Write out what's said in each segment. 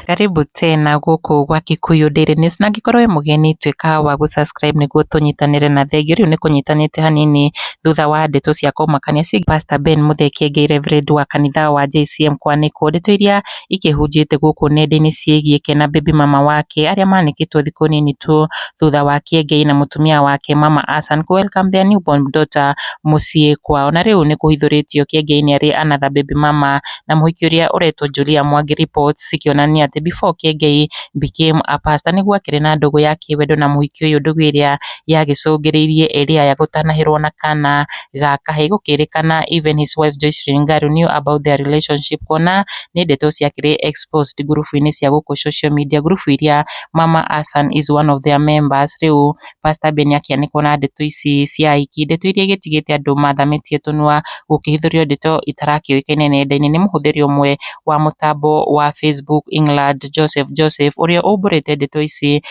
Karibu tena gũkũ gwa Kikuyu Daily News na angĩkorwo wĩ mũgeni tuĩka wa gũ subscribe nĩguo tũnyitanĩre na thengiũ. Rĩu nĩ kũnyitanĩte hanini thutha wa ndeto cia kũmakania ciĩgiĩ Pastor Ben Mũthee Kiengei Reverend wa kanitha wa JCM Kwanĩkwo. Ndeto iria ikĩhunjĩte gũkũ nenda-inĩ ciĩgiĩ Kena Baby mama wake arĩa manĩkĩtwo thikũ nini tu thutha wa Kĩengei na mũtumia wake mama Hassan kũ welcome their new born daughter mũciĩ kwao. Na rĩu nĩ kũhithũrĩtio Kĩengei nĩ arĩ another baby mama na mũhiki ũrĩa ũretwo Julia Mwangi reports cikĩonania atĩ before Kĩengei became a pastor nĩguo akĩrĩ na ndũgũ ya kĩwendo na mũhiki ũyũ ndũgũ ĩrĩa yagĩcũngĩrĩirie Eliah gũtanahĩrwo na kana gaka he gũkĩrĩkana even his wife Joyce Lingari knew about their relationship kuona nĩ ndeto ciakĩrĩ exposed ngurubu-inĩ cia gũkũ social media, ngurubu iria Mama Hassan is one of their members. Rĩu Pastor Ben akĩanĩkwo na ndeto ici cia ahiki, ndeto iria igĩtigĩte andũ mathamĩtie tũnua gũkĩhithũrio ndeto itarakĩũĩkaine nenda-inĩ nĩ mũhũthĩri ũmwe wa mũtambo wa Facebook England Joseph Joseph ũrĩa ũmbũrĩte ndeto ici.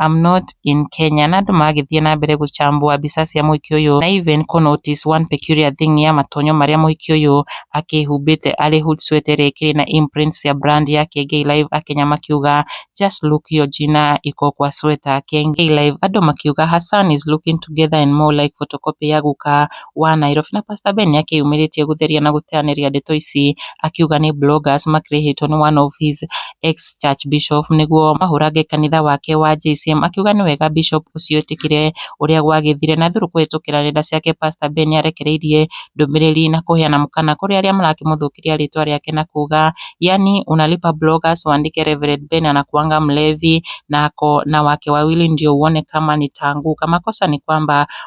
I'm not in Kenya na andũ magĩthiĩ na mbere gũcambua mbica cia mũhiki ũyũ na even kũ notice one peculiar thing ya matonyo marĩa mũhiki ũyũ akĩhumbĩte arĩ hood sweater ĩrĩa ĩkĩrĩ na imprint cia brand ya Kengei Live Akenya makiuga just look hiyo jina iko kwa sweater Kengei Live andũ makiuga Hassan is looking together and more like photocopy ya guka wa Nairobi na Pastor Ben nĩakĩyumĩrĩtie gũtheria na gũteanĩria ndeto ici akiuga nĩ bloggers makĩrĩhĩtwo nĩ one of his ex church bishop nĩguo mahũrange kanitha wake wa JCM akiuga nĩ wega bishop ũcio etĩkĩre ũrĩa gwagĩthire na through kũhĩtũkĩra nenda ciake Pastor Ben nĩarekereirie ndũmĩrĩri na kũheana mũkana kũrĩ arĩa marakĩmũthũkĩria rĩtwa rĩake na kuga yani unalipa bloggers wandĩke Reverend Ben anakuanga mlevi na ako na wake wawili ndio uone kama nitaanguka makosa ni kwamba